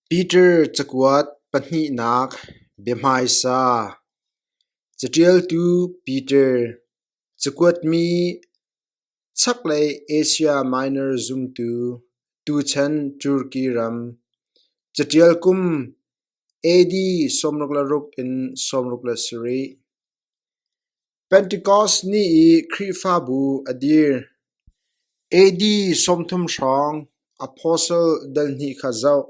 Peter cakuat pahnihnak biahmaisa Caṭialtu Peter, cakuatmi Chaklei Asia Minor zumtu, tuchan Turki ram, caṭial kum AD sawmruk le ruk in sawmruk le sarih. Pentecost ni i Khrihfabu a dir. AD sawmthum hrawng Apostle dal hnih kha zoh.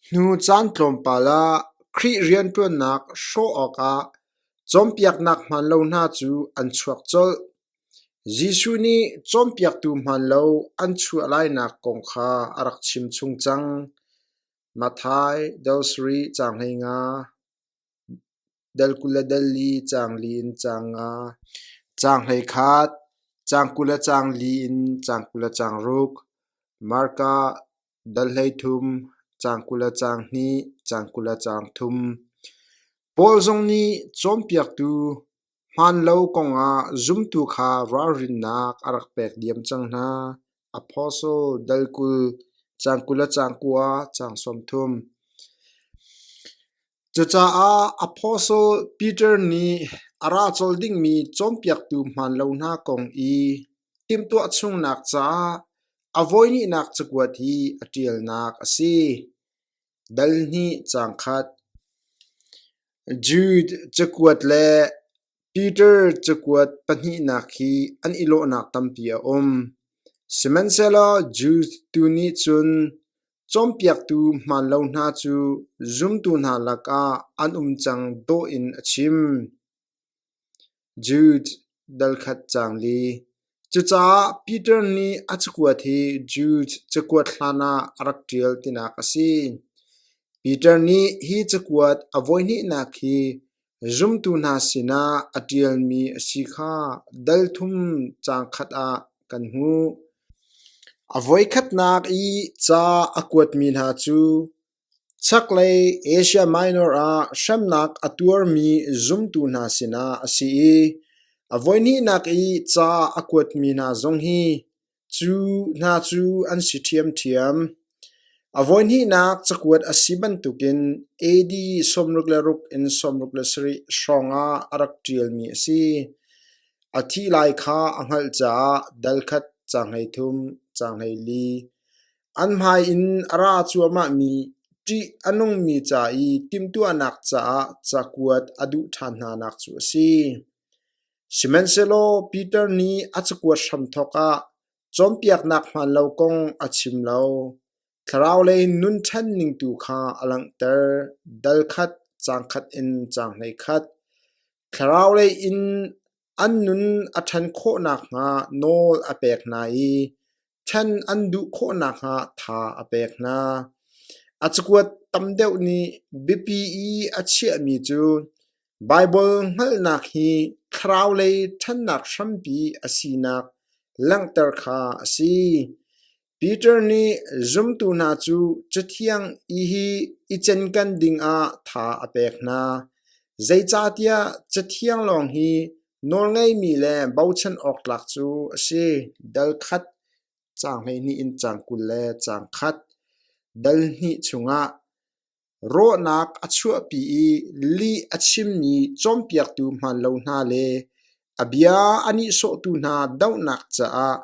Hnu caan tlawmpal ah Khrih rianṭuannak hrawh awkah cawnpiaknak hmaan lo hna cu an chuak colh. Jesuh nih cawnpiaktu hmaan lo an chuah lainak kong kha a rak chim chung cang. Matthai, Dosari, caang hleinga. Dal kul le dal li caang li in caang nga, caang hleikhat, caang kul le caang li in caang kul le caang ruk, marka, dal hleithum, caang kul le caang hnih, caang kul le caang thum. Paul zong nih cawnpiaktu hmaan lo kongah zumtu kha ralrinnak a rak pek diam cang hna. Apostle dal kul cang kul le cang kua cang sawmthum. Cucaah Apostle Peter nih a ra cawl dingmi cawnpiaktu hmaan lo hna kong i timhtuah chungnak caah a voihnihnak cakuat hi a ṭialnak a si. Dal hnih cang khat. Jude cakuat le Peter cakuat pahnihnak hi an i lawhnak tampi a um, sihmanhsehlaw Jew tu nih cun cawnpiaktu hmaan lo hna cu zumtu hna lakah an um cang dawh in a chim. Jude dal khat caang li. Cucaah Peter nih a cakuat hi Jews cakuat hlanah a rak ṭial tinak a si. Peter nih hi cakuat a voihnihnak hi zumtu hna sinah a ṭialmi a si kha dalthum caang khat ah kan hmuh. A voikhatnak i ca a kuatmi hna cu Chaklei Asia Minor ah hremnak a tuarmi zumtu hna sinah a si i a voihnihnak i ca a kuatmi hna zong hi cu hna cu an si ṭhiamṭhiam. A voihnihnak cakuat a si bantukin AD sawmruk le ruk in sawmruk le sarih hrawngah a rak ṭialmi a si. A thih lai kha a hngalh caah dal khat, ca hlei thum, ca hlei li, An hmai in a ra cuahmahmi ṭih a nungmi ca i timhtuahnak caah cakuat a duh ṭhan hnanak cu a si. Sihmanhsehlaw Piter nih a cakuat hram thawk ah cawnpiaknak hmaan lo kong a chim lo. Thlaraulei nun ṭhanning tu kha a langhter, dal khat, caang khat in caang hlei khat. Thlaraulei in An nun a ṭhan khawh nakhnga nawl a pek hna i ṭhen an duh khawh nakhnga tha a pek hna. A cakuat tam deuh nih biapi i a chiahmi cu Baibal hngalhnak hi thlaraulei ṭhannak hrampi a sinak langhter kha a si. Peter nih zumtu hna cu Cathiang i hi i cenkan dingah tha a pek hna, zeicahtiah Cathiang lawng hi nawlngeimi le bochan awk tlak cu a si. Dal khat, caang hleihnih in caang kul le caang khat, dal hnih chungah Rawhnak a chuahpi i lih a chimmi cawnpiaktu hmaan lo hna le a bia a nihsawhtu hna dohnak caah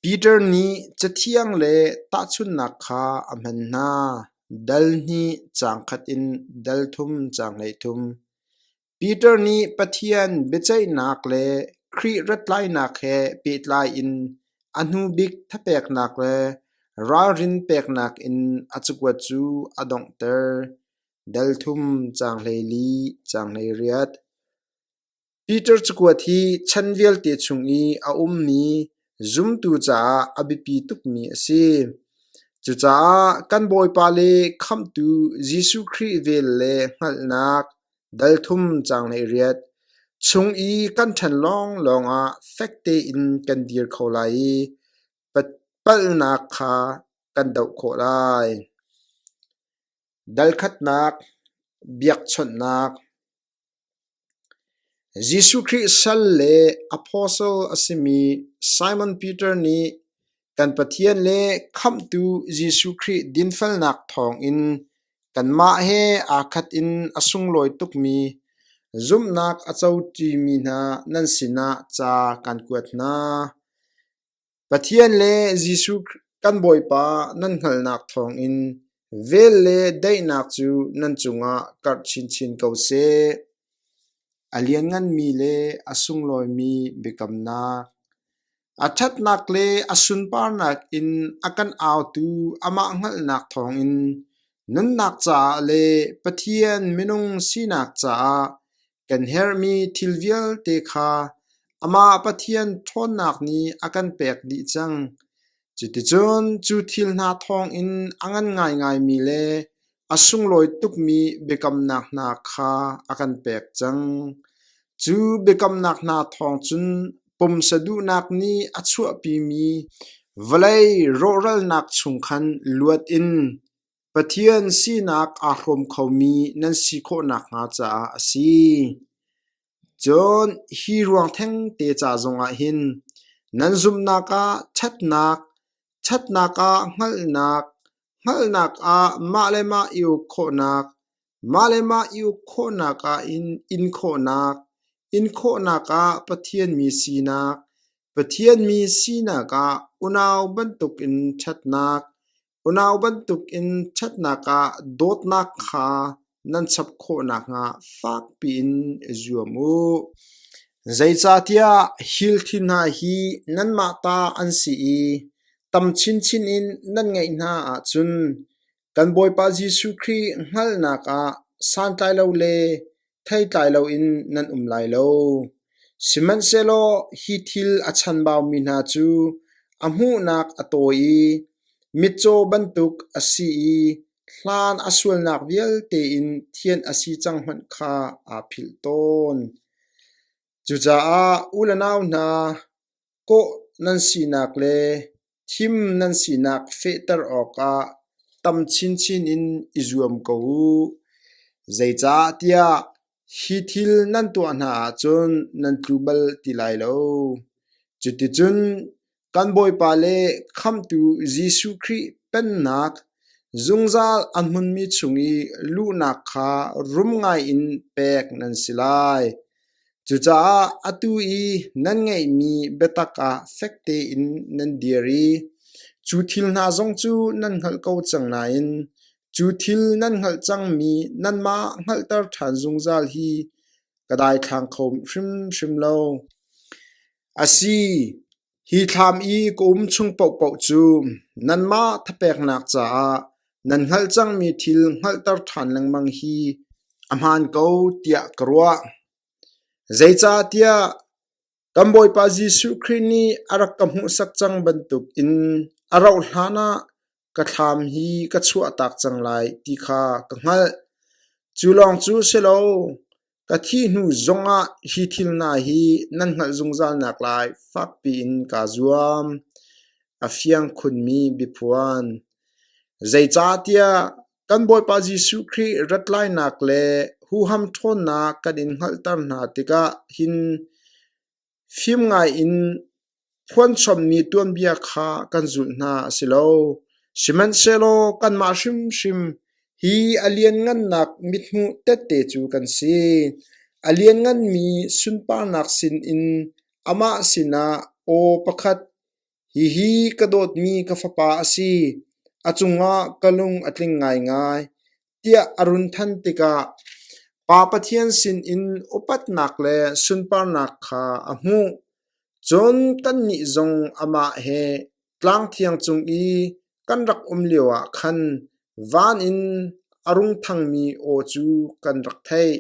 Peter nih Cathiang le tahchunhnak kha a hman hna. Dal hnih, caang khat in dal thum, caang hleithum. Peter nih Pathian biaceihnak le Khrih rattlainak he pehtlai in a hnubik thapeknak le ralrin peknak in a cakuat cu a donghter. Delthum caang hleli caang hleiriat. Peter cakuat hi chan vialte chung i a ummi zumtu caah a biapi tukmi a si. Cucaah kan Bawipa le Khamhtu Jesuh Khrih vel le hngalhnak, Dal thum caang hleiriat: Chung i kan ṭhan lawnglawng ah fek tein kan dir kho lai i palhnak kha kan doh khawh lai. Dal khatnak: Biakchawnhnak Jesuh Khrih sal le apostle a simi Simon Peter nih Kan Pathian le Khamhtu Jesuh Khrih dinfelnak thawngin kanmah he aa khat in a sunglawi tukmi zumhnak a cotimi hna nan sinah ca kan kuat hna. Pathian le Jesuh kan Bawipa nan hngalhnak thawngin vel le daihnak cu nan cungah karh chinchin ko seh. A liannganmi le a sunglawimi biakamnak A ṭhatnak le a sunparnak in a kan autu amah hngalhnak thawngin nunnak caah le Pathian minung sinak caah kan herhmi thil vialte kha Amah Pathian ṭhawnnak nih a kan pek dih cang. Cuticun cu thil hna thawngin a ngan ngaingaimi le A sunglawi tukmi biakamnak hna kha a kan pek cang. Cu biakamnak hna thawng cun pumsa duhnak nih a chuahpimi vawlei rawhralnak chung khan luat in Pathian sinak aa hrawm khomi nan si khawh nakhnga caah a si. Cun hi ruang thengte ca zongah hin nan zumhnak ah ṭhatnak, ṭhatnak ah hngalhnak, Hngalhnak ah mah le mah i uk khawhnak, mah le mah i uk khawhnak ahhin in khawhnak, in khawhnak ah Pathian mi sinak, Pathian mi sinak ah unau bantukin ṭhatnak, unau bantukin ṭhatnak ah dawtnak kha nan chap khawh nakhnga fakpi in i zuam u. Zeicahtiah hil thil hna hi nanmah ta an si i tam chinchin in nan ngeih hna ahcun kan Bawipa Jesuh Khrih hngalhnak ah santlai lo le theitlai loin nan um lai lo. Sihmanhsehlaw hi thil a chanbaumi hna cu a hmuhnak a tawi i mitcaw bantuk a si i Hlan a sualnak vialte in thianh a si cang hmanh kha aa philh tawn. Cucaah u le nau hna, kawh nan sinak le thim nan sinak fehter awkah tam chinchin in i zuam ko u. Zeicahtiah Hi thil nan tuah hna ahcun nan tlu bal ti lai lo. Cuticun kan Bawipa le Khamhtu Jesuh Khrih Pennak zungzal a hmunmi chung i luhnak kha rum ngaiin pek nan si lai. Cucaah atu i nan ngeihmi biatak ah fek tein nan dir i cu thil hna zong cu nan hngalh ko cang nain Cu thil nan hngalh cangmi nanmah hngalhter ṭhan zungzal hi ka daithlang kho hrimhrim lo. A si, hi thlam i ka um chung paohpaoh cu nanmah thapeknak caah nan hngalh cangmi thil hngalhter ṭhan lengmang hi a hmaan ko tiah ka ruah. Zeicahtiah kan Bawipa Jesuh Khrih nih a rak ka hmuhsak cang bantukin a rauhhlan ah ka thlam hi ka chuahtak cang lai ti kha ka hngalh. Cu lawng cu si lo, ka thih hnu zongah hi thil hna hi nan hngalh zungzal nak lai fakpi in kaa zuam. A fiang khunmi biaphuan. Zeicahtiah kan Bawipa Jesuh Khrih rat lainak le huham ṭhawnnak kan in hngalhter hna tikah hin Fim ngaiin phuanchommi tuanbia kha kan zulh hna a si lo, sihmanhsehlaw kanmah hrimhrim hi a lianngannak mithmuh tette cu kan si. A liannganmi sunparnak sinin amah sinah aw pakhat, Hihi ka dawtmi ka fapa a si, a cungah ka lung a tling ngaingai, tiah a run thanh tikah Pa Pathian sinin upatnak le sunparnak kha a hmuh. Cun tannih zong amah he tlang thiang cung i kan rak um lio ah khan van in a rung thangmi aw cu kan rak theih.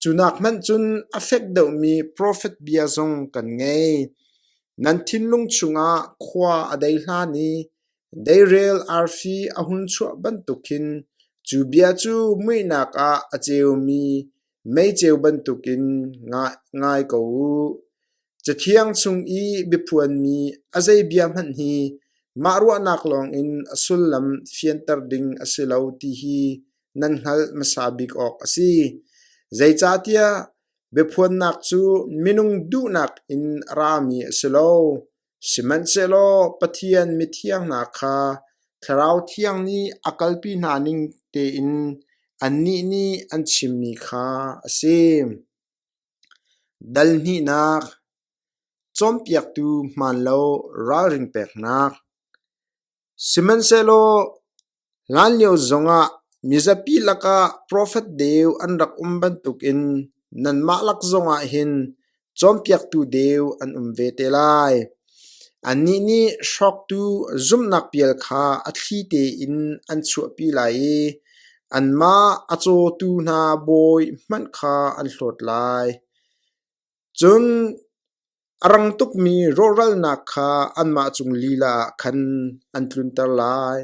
Cunak hmanh cun a fek deuhmi profet bia zong kan ngei. Nan thinlung chungah khua a dei hlan i deirel arfi a hun chuah bantuk hin cu bia cu muihnak ah a ceumi meiceu bantukin ngai ko u. Cathiang chung i biaphuanmi a zeibia hmanh hi mah ruahnak lawngin a sullam fianter ding a si lo ti hi nan hngalh hmasa bik awk a si. Zeicahtiah biaphuannak cu minung duhnak in rami a si lo, sihmanhsehlaw Pathian mithiang hna kha Thlarau Thiang nih a kalpi hna ning tein annih nih an chimmi kha a si. Dal hnihnak, cawnpiaktu hmaan lo ralrin peknak. Sihmanhsehlaw hlanlio zongah mizapi lakah profet deu an rak um bantukin nanmah lak zongah hin cawnpiaktu deu an um ve te lai. Annih nih hrawktu zumhnak pial kha a thli tein an chuahpi lai i anmah a cawtu hna bawi hmanh kha an hlawt lai. Cun a rang tukmi rawhralnak kha anmah cung lila ah khan an tlunter lai.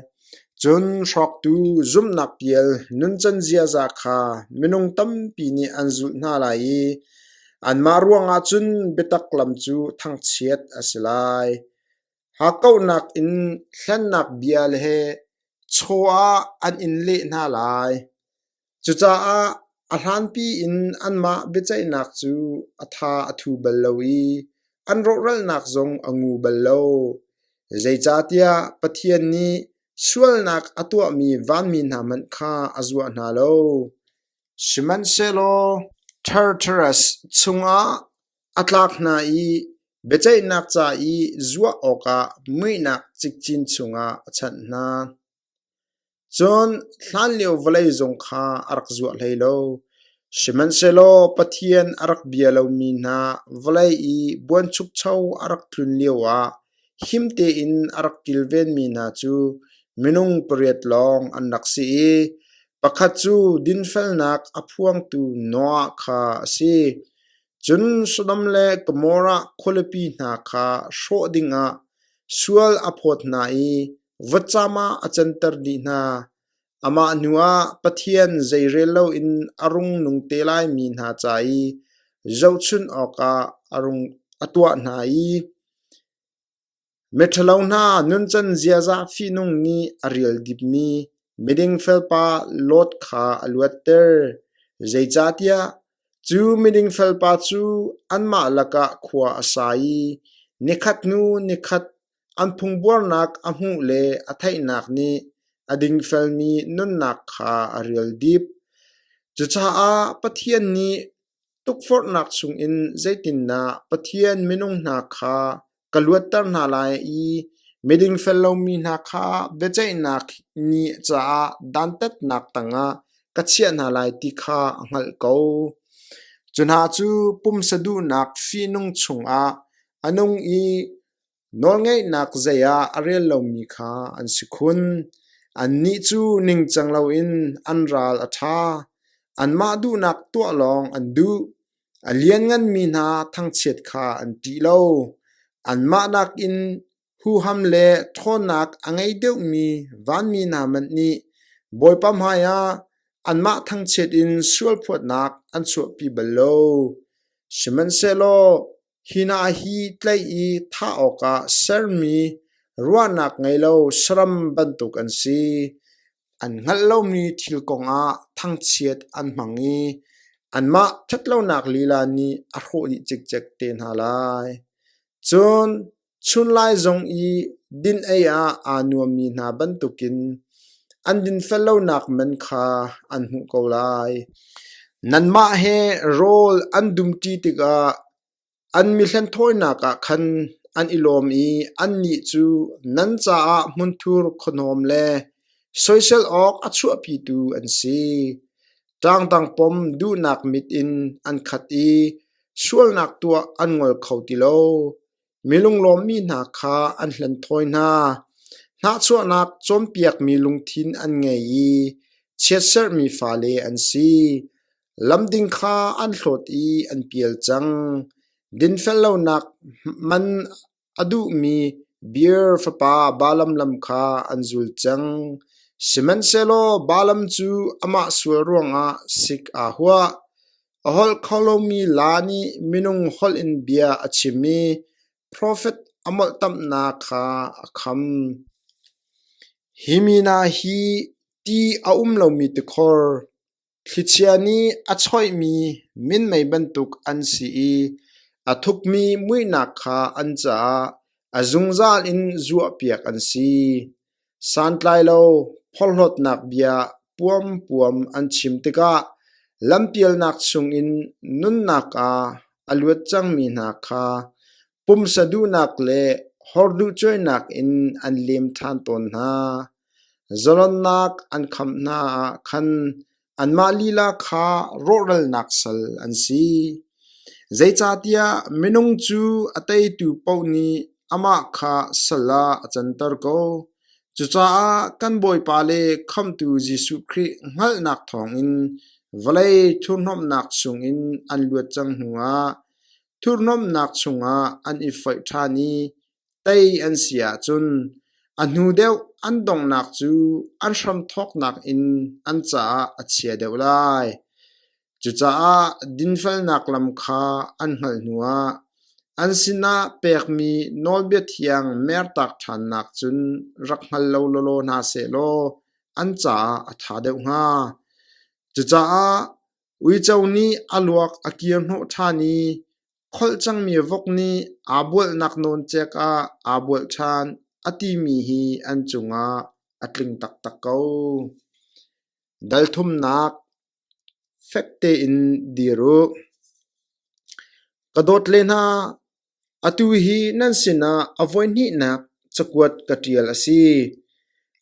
Cun hrawktu zumhnak pial nuncan ziaza kha minung tampi nih an zulh hna lai i Anmah ruangah cun biatak lam cu thangchiat a si lai. Hakkauhnak in hlennak bia he chaw ah an in leh hna lai. Cucaah a hlanpi in anmah biaceihnak cu a tha a thu bal lo i an rawhralnak zong a ngu bal lo. Zeicahtiah Pathian nih sualnak a tuahmi vanmi hna hmanh kha a zuah hna lo. Sihmanhsehlaw Tartarus chungah a tlak hna i biaceihnak ca i zuah awkah muihnak cikcin chungah a chanh hna. Cun hlanlio vawlei zung kha a rak zuah hlei lo, sihmanhsehlaw Pathian a rak bia lomi hna vawlei i buanchukcho a rak tlun lioah Him tein a rak kilvenmi hna cu minung pariat lawng an rak si i pakhat cu dinfelnak a phuangtu Noah kha a si. Cun Sodom le Gomorrah khualipi hna kha hrawh dingah sual a phawt hna i vutcam ah a canter dih hna. Amah hnuah Pathian zeirel loin a rungnung te lai mi hna ca i zohchunh awkah a tuah hna i miṭhalo hna nuncan ziaza fihnung nih a rial dipmi miding felpa Lot kha a luatter. Zeicahtiah cu miding felpa cu anmah lakah khua a sa i nikhat hnu nikhat An phungbuarnak a hmuh le a theihnak nih a dingfelmi nunnak kha a rial dip. Cucaah Pathian nih tukforhnak chungin zeitindah Pathian minung hna kha ka luatter hna lai i midingfel lomi hna kha biaceihnak ni caah dantatnak tangah ka chiah hna lai ti kha a hngalh ko. Cu hna cu pumsa duhnak fihnung chungah a nung i Nawlngeihnak zei ah a rel lomi kha an si khun; annih cu ningcang loin an ral a ṭha; anmah duhnak tuah lawng an duh. A liannganmi hna thangchiat kha an ṭih lo; anmah nakin huham le ṭhawnnak a ngei deuhmi vanmi hna hmanh nih Bawipa hmaiah anmah thangchiat in sualphuatnak an chuahpi bal lo; sihmanhsehlaw Hi hna hi tlaih i thah awkah sermi ruahnak ngei lo saram bantuk an si. An hngalh lomi thil kongah thangchiat an hmang i anmah ṭhatlonak lila nih a hrawh dih cikcek te hna lai. Cun Chunlai zong i din ei ah aa nuammi hna bantukin an dinfel lonak men kha an hmuh ko lai. Nanmah he rawl an dumṭi tikah an mihlen thawinak ah khan an i lawm i annih cu nan caah hmunthur khuahnawm le soisel awk a chuahpitu an si. Ṭangdang pom duhnak mit in an khat i sualnak tuah an ngol kho ti lo. Mi lunglawmmi hna kha an hlen thawi hna, hnahchuahnak cawnpiakmi lungthin an ngei i chiatserhmi fale an si. Lam ding kha an hlawt i an pial cang. Dinfel lonak man a duhmi Beer fapa Balaam lam kha an zul cang, sihmanhsehlaw Balaam cu amah sual ruangah sik aa huah. A holh kho lomi laa nih minung holh in bia a chim i profet a molhtamhnak kha a kham. Hi mi hna hi ti a um lomi tikhor, thlichia nih a choihmi minmei bantuk an si i a thukmi muihnak kha an caah a zungzal in zuahpiak an si. Santlai lo phorhlawtnak bia puampuam an chim tikah lampialnak chungin nunnak ah a luat cangmi hna kha pumsa duhnak le hor duhcuainak in an lem ṭhan tawn hna. Zalonnak an khamh hna ah khan Anmah lila kha rawhralnak sal an si, zeicahtiah minung cu a teitu paoh nih amah kha sal ah a canter ko. Cucaah kan Bawipa le Khamhtu Jesuh Khrih hngalhnak thawngin vawlei thurhnawmhnak chungin an luat cang hnuah thurhnawmhnak chungah an i foih ṭhan i Tei an si ahcun a hnu deuh an donghnak cu an hramthawknak in an caah a chia deuh lai. Cucaah dinfelnak lam kha an hngalh hnuah an sinah pekmi nawlbia thiang mertak ṭhannak cun rak hngal lo lawlaw hna sehlaw an caah a ṭha deuh hnga. Cucaah Uico nih a luak a kirhnawh ṭhan i kholh cangmi vok nih aa bualnak nawn cek ah aa bual ṭhan, a timi hi an cungah a tling taktak ko. Dalthumnak fek tein dir u. Ka dawt le hna, Atu hi nan sinah a voihnihnak cakuat ka ṭial a si.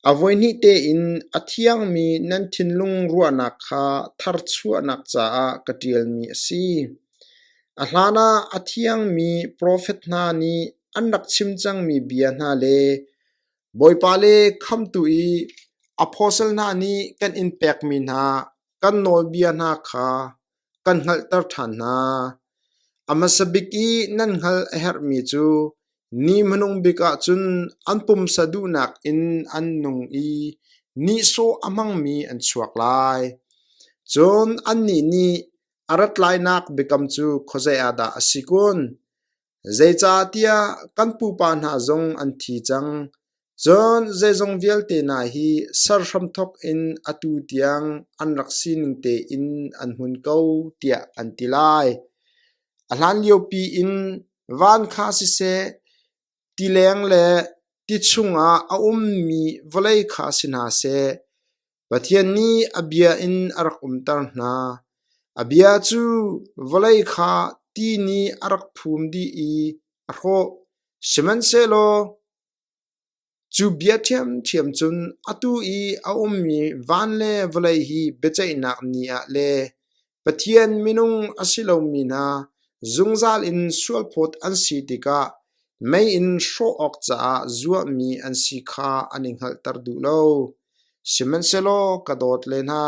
A voihnih tein a thiangmi nan thinlung ruahnak kha tharchuahnak caah ka ṭialmi a si. A hlanah a thiangmi profet hna nih an rak chim cangmi bia hna le Bawipa le Khamhtu i apostle hna nih kan in pekmi hna kan nawlbia hna kha kan hngalhter ṭhan hna. A hmasa bik i nan hngalh a herhmi cu ni hmanung bik ahcun an pumsa duhnak in an nung i nihsawh a hmangmi an chuak lai. Cun annih nih a rat lainak biakam cu khuazei ah dah a si kun? Zeicahtiah kan pupa hna zong an thi cang, cun zeizong vialte hna hi ser hramthawk in atu tiang an rak sining tein an hmun ko, tiah an ti lai. A hlanliopi in van kha siseh, tileng le ti chungah a ummi vawlei kha si hna seh, Pathian nih a bia in a rak umter hna. A bia cu vawlei kha ti nih a rak phum dih i a hrawh. Sihmanhsehlaw cu bia ṭhiamṭhiam cun atu i a ummi van le vawlei hi biaceihnak ni ah le Pathian minung a si lomi hna zungzal in sualphawt an si tikah mei in hrawh awk caah zuarmi an si kha an i hngalhter duh lo. Sihmanhsehlaw ka dawt le hna,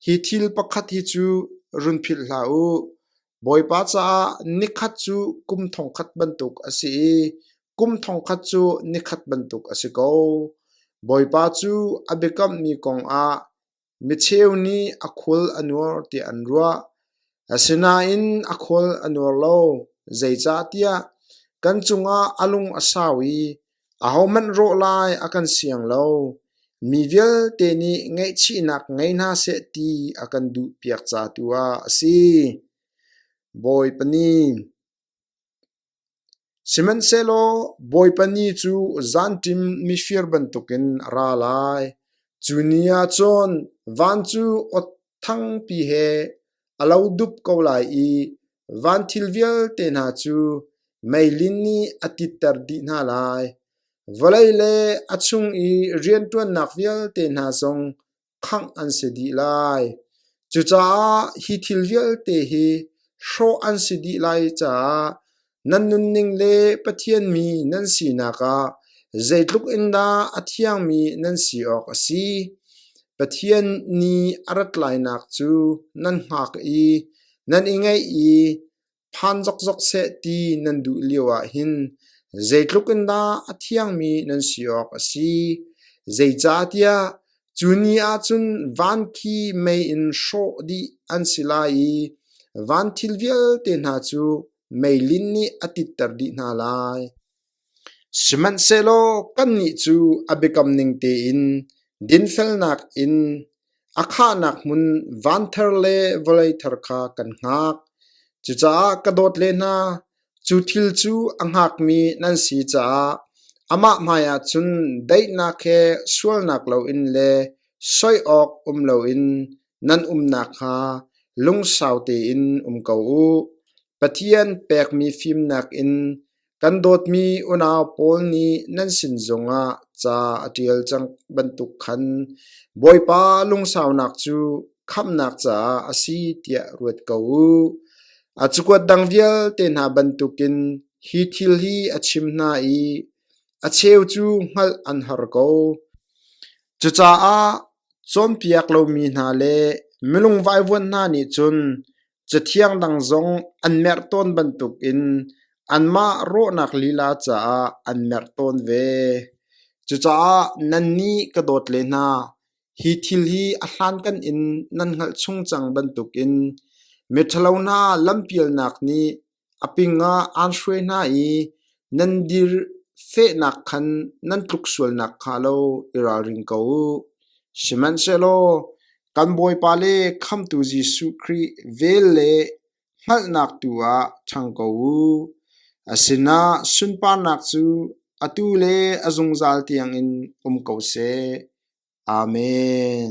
hi thil pakhat hi cu run philh hlah u. Bawipa caah nikhat cu kum thongkhat bantuk a si i kum thongkhat cu nikhat bantuk a si ko. Bawipa cu a biakammi kongah Micheu nih a khual a nuar tiah an ruah. Asinain a khual a nuar lo. Zeicahtiah kan cungah a lung a sau i ahohmanh rawh lai a kan siang lo. Mi vialte nih ngaihchihnak ngei hna seh ti a kan duhpiak ca tu ah a si. Bawipa nih, Sihmanhsehlaw Bawipa ni cu zanṭim mifir bantukin a ra lai. Cu ni ah cun van cu awtthangpi he a lo dup ko lai i van thil vialte hna cu meilin nih a titter dih hna lai. Vawlei le a chung i rianṭuannak vialte hna zong khangh an si dih lai. Cucaah hi thil vialte hi hrawh an si dih lai caah nan nunning le Pathian mi nan sinak ah zeitluk in dah a thiangmi nan si awk a si. Pathian nih a rat lainak cu nan hngak i nan i ngaih i Phan zokzok seh ti nan duh lio ahhin zeitluk in dah a thiangmi nan si awk a si, zeicahtiah cu ni ahcun van khi mei in hrawh dih an si lai i van thil vialte hna cu meilin nih a titter dih hna lai. Sihmanhsehlaw kannih cu a biakam ning tein dinfelnak in a khahnak hmun vanthar le vawlei thar kha kan hngak. Cucaah ka dawt le hna, cu thil cu a hngakmi nan si caah amah hmaiah cun daihnak he sualnak loin le soi awk um loin nan umnak hnga lungsau tein um ko u. Pathian pekmi fim nakin Kan dawtmi unau pawl nih nan sin zongah ca a ṭial cang bantuk khan Bawipa lungsaunak cu khamhnak caah a si tiah ruat ko u. A cakuat dang vialte hna bantukin hi thil hi a chim hna i a cheu cu hngalh an har ko. Cucaah cawnpiak lomi hna le milung vaivuan hna nih cun Cathiang dang zong an merh tawn bantukin anmah rawhnak lila caah an merh tawn ve. Cucaah nan nih ka dawt le hna, hi thil hi a hlankan in nan hngalh chung cang bantukin miṭhalo hna lampialnak nih A ping ah aan hruai hna i nan dir fehnak khan nan tluk sualnak hnga lo i ralring ko u. Sihmanhsehlaw kan Bawipa le Khamhtu Jesuh Khrih vel le hngalhnak tu ah ṭhang ko u. A sinah sunparnak cu atu le a zungzal tiangin um ko seh. Amen.